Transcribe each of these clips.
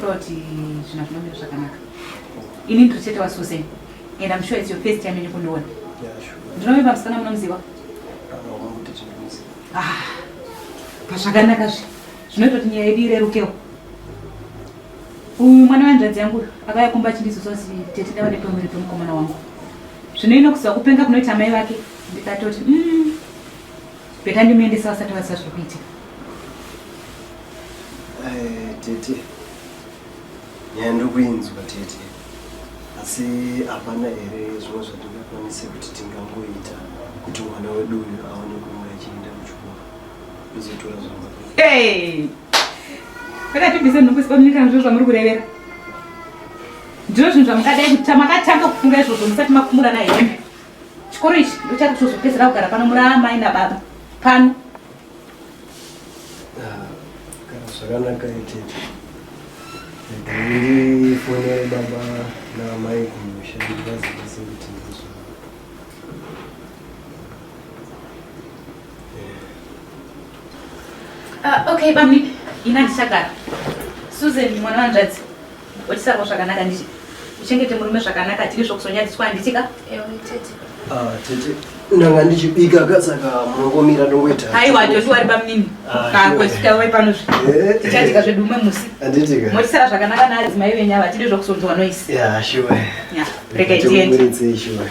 Proti zvina zvinomira zvakanaka. Ini ndiri chete waSusan and I'm sure it's your first time ini kundiona. Ndinovimba musikana munomuziva? Ah, pazvakanaka zve zvinoita kuti nyaya yedu irerukewo. Uyu mwana wanzvadzi yangu akauya kumba achindizosa kuti tete ndava nepamuviri pemukomana wangu. Zvino inokuziva kupenga kunoita mai vake ndikatoti mm, Beta ndimuendesa vasati vaziva zviri kuitika. Eh, tete nyaya ndokuinzwa tete asi hapana here zvimwe zvatingakwanise kuti tingangoita kuti mwana wedu uyu aone kunge achienda kuchikoro izotora zvamba pakatibvise nhokusipamunika ndizvo zvamuri kurevera ndizvo zvinhu zvamukadai kuti tamakatanga kufunga izvozvo musati makumurana hembe Chikoro ichi ndochati tozopedzera kugara pano muri amai nababa pano. Ah, kana zvakanaka itete. Ndifonere baba naamai kumusha ndivazivise kuti ndizvo. Ah, okay bamni, ina ndichagara. Susan mwana wanzvadzi. Wachisarwa zvakanaka nditi. Uchengete murume zvakanaka tiri zvokusonyadziswa handiti ka? Ewe tete. Ah, tete. Ndanga ndichibika ka saka mungomira ndongoita. Haiwa Josi wari pamunini. Ah, Ka sure. kwesika wai pano zve. Eh. Tichadika zvedu umwe musi. Handiti ka? Mochisara zvakanaka naadzimai venyu ava tiri zvokusonzwa noise. Yeah, sure. Yeah. Rega Tete, tiende. muridzei, sure.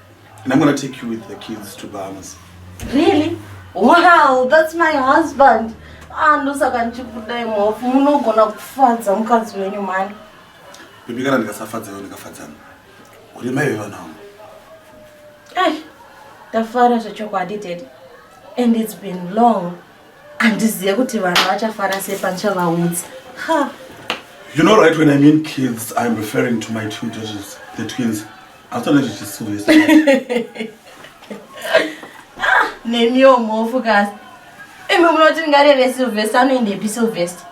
And I'm gonna take you with the kids to Bahamas. Really? Wow, that's my husband. Ah, ndosaka ndichikuda imhofu. Munogona kufadza mukadzi wenyu mani. Bibi kana ndikasafadza iwe ndikafadzana. Uri mai vevana wangu. Eh, ndafara zvechokwadi daddy. And it's been long. Andizive kuti vanhu vachafara sei pandichavaudza. Ha. You know right when I mean kids, I'm referring to my two daughters, the twins. Hautoona zvichisuyo. Nemiwo mhofu kasi. Imi munoti ngareve Sylvester anoendepi Sylvester?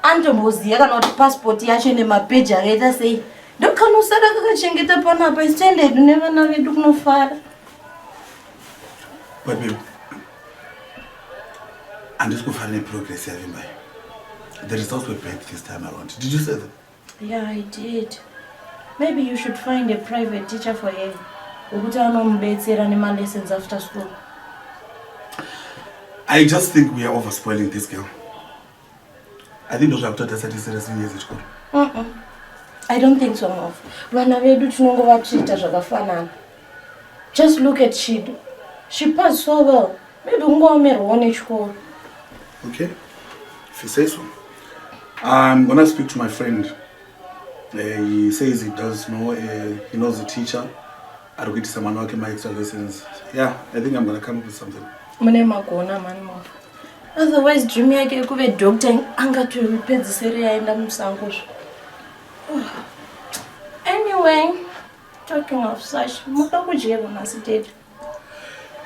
Anotomboziya kana kuti passport yacho ine mapeji akaita sei? Ndokanosara kakachengeta panapa isi tiende hedu nevana vedu kunofara. Babe. Handisi kufara neprogress yavimba iyo. The results were bad this time around. Did you say that? Yeah, I did. Maybe you should find a private teacher for him. Ukuti anomubetsera nema lessons after school. I just think we are over spoiling this girl. I think ndozvakutoda sati serious years echikoro. Mm-mm. I don't think so, Mom. Vana vedu tinongova treater zvakafanana. Just look at Chido. She passed so well. Maybe ungaomerwawo nechikoro. Okay. If you say so. I'm gonna speak to my friend. Uh, he says he does know, uh, he knows the teacher. Ari kuitisa mwana wake my extra lessons. Yeah, I think I'm gonna come up with something. Mune magona mani mwa. Otherwise dream yake yekuve doctor angatopedzisere yaenda musango zvo. Anyway. Talking of such, muda kudyero nhasi dad.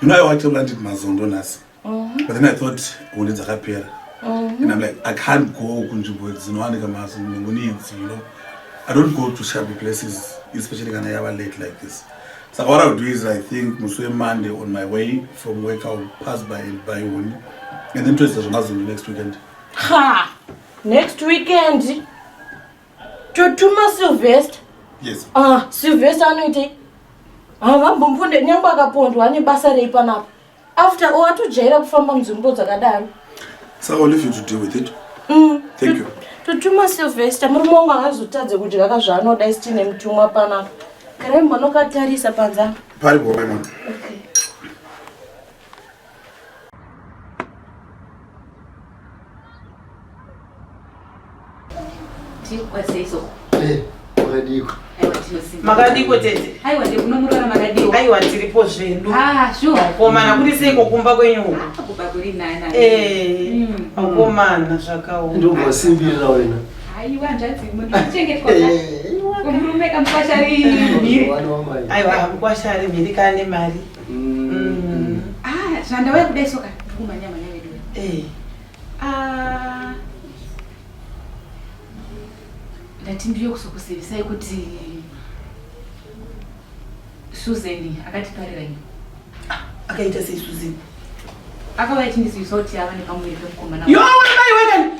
You know I wanted to eat mazondo nhasi. Mm-hmm. But then I thought holiday dzakapera. Mm-hmm. And I'm like I can't go kunzvimbo dzinowanika mazondo ngoni idzi, you know. I don't go to shabby places especially kana yava late like this. So what I'll do is I think musi weMonday on my way from work I'll pass by and buy one. And then tozoita zvemazondo next weekend. Ha! Next weekend. totuma silvester yes. ah, silvester anoitei havambomponde ah, nyange akapondwa ane basa rei panapa after all atojaira kufamba munzvimbo dzakadaro so ill leave you to deal with it mm. thank you totuma silvester murume wangu angazotadze kudya ka zvaanoda isi tiine mutumwa panapa karai mbonokatarisa panzaa pari bhomai mwana okay. makadiko tete aiwa ndekunomurora makadiko aiwa tiripo zvedu ah, komana kuri seiko kumba kwenyu ah, kumba kuri nana eh, mm. akomana zvakaoma ndovasimbirira wena aiwa nzvadzi muchengetwa eh, murume kamukwashari mhiri aiwa mukwashari mhiri kane mari Mm. Ah, zvandauya kudai soka ndikumhanya mhanya vedu. Eh. Ah. Ndati ndiyo kusokuzivisai kuti Susan akatiparira ini. Ah, akaita sei Susan? Akauya achindizivisa kuti ava nepamuviri pemukomana. Yo, wena mai wena.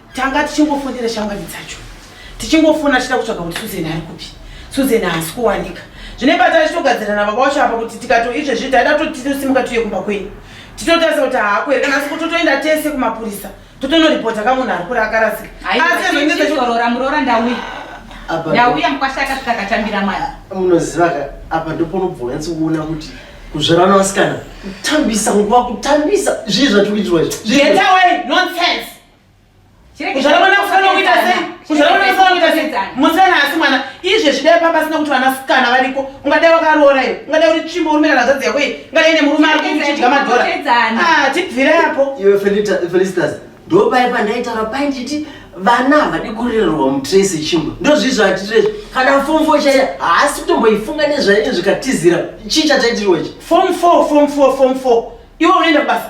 tanga tichingofonera shamwari dzacho tichingofona tichida kutsvaga kuti suzen ari kupi suzen haasi kuwanika zvine patari chitogadzirana baba wacho apa kuti tikato izvezvi taida toti tosimuka tuye kumba kwenyu titotarisa kuti haako here kana asi kuti totoenda tese kumapurisa totonoripota ka munhu ari kuri akarasika aizorora muroora ndauya ndauya mukwasha akasvika akatambira mwana munoziva ka apa ndoponobva wanyatsi kuona kuti kuzvarana vasikana kutambisa nguva kutambisa zvii zvatikuitirwa izvi kuzvara mwana kufanira kuita sei kuzvara mwana kufanira kuita sei musana asi mwana izve zvidai pamba asina kuti vanasikana variko ungadai wakaroora iwe ungadai uri tsvimbo urume kana zvadzi yako iyi ungadai ne murume ari kuchidya madhora ah, tibvire apo iwe felicitas ndopai pandaitaura pai nditi vana havadi kurererwa mutrace chimbo ndozvizvo atirezvi kana fom four chaiya haasi kutomboifunga nezvaine zvikatizira chii chataitiriwa ichi fom four fom four fom four iwe unoenda kubasa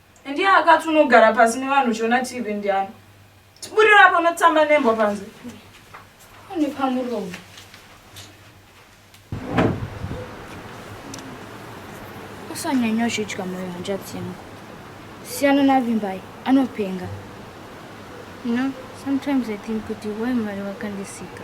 Ndiye akati unogara pasi nevanhu uchiona TV ndiani? Tiburira apo unotamba nembwa panze. Une pamuromo. Usanyanya uchidya moyo hanzvadzi yangu. Siyana naVimbai, anopenga. You know, sometimes I think kuti why mwari vakandisika.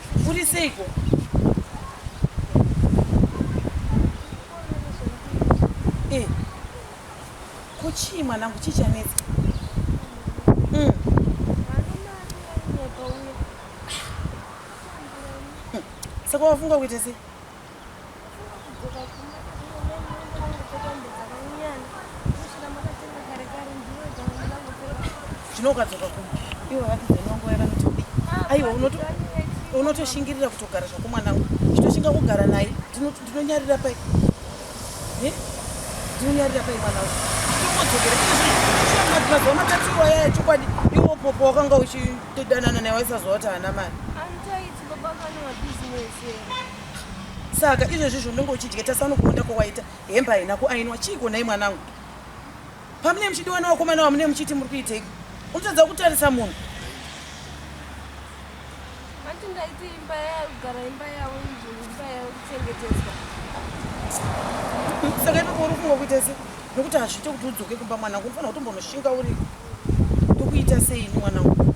Uri seiko? Eh. Ko chii mwanangu chii chanetsa? Mm. Saka wafunga kuita sei? chinokadzoka kuma ivo vakidza inongo yakanotodi aiwa unotoshingirira kutogara zvako mwanangu chitoshinga kugara naye ndinonyarira pai ndinonyarira pai mwanangu chitokodzokera mazuva matatirwa yaya chokwadi iwo popo wakanga uchidanana naye waisazova kuti haana mari saka izvezvi zvaunenge uchidya tasano kuonda kwawaita hembe haina kuainwa chiiko nhai mwanangu pamune muchidiwana wakomana wamune muchiti muri kuiteiko unotadza kutarisa munhu ati ndaiti imba yagara imba yavo izvo imba yavo kuchengeteswa saka ipapo uri kunga kuita se nokuti hazviite kuti udzoke kumba mwanangu unofanira kutombonoshinga uri tokuita seini mwanangu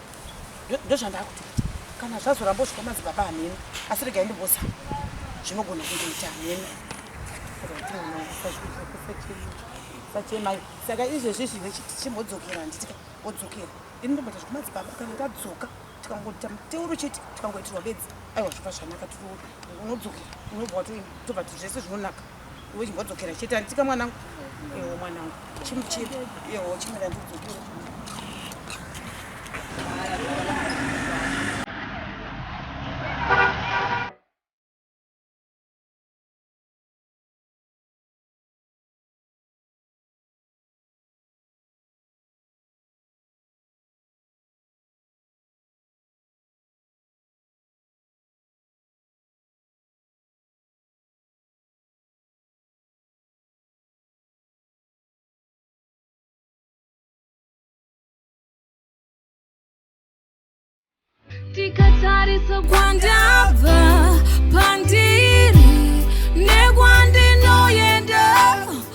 ndozvandakuti kana zvazoramba usvika madzibaba hameno asi regai ndimbosa zvinogona kungoita hameno sachemai saka izvezvi zvive chimbodzokera handitika odzokera ini ndomboita zvekumadzibaba kana ndadzoka tikangoita muteuro chete tikangoitirwa bedzi aiwa zvoka zvanaka tiri unodzokera unobva watobva zvese zvinonaka Vodzokera chete anditika mwanangu. Ewo mwanangu. Chimuchira. Ewo chimira ndidzokera. ndikatarisa kwandabva pandiri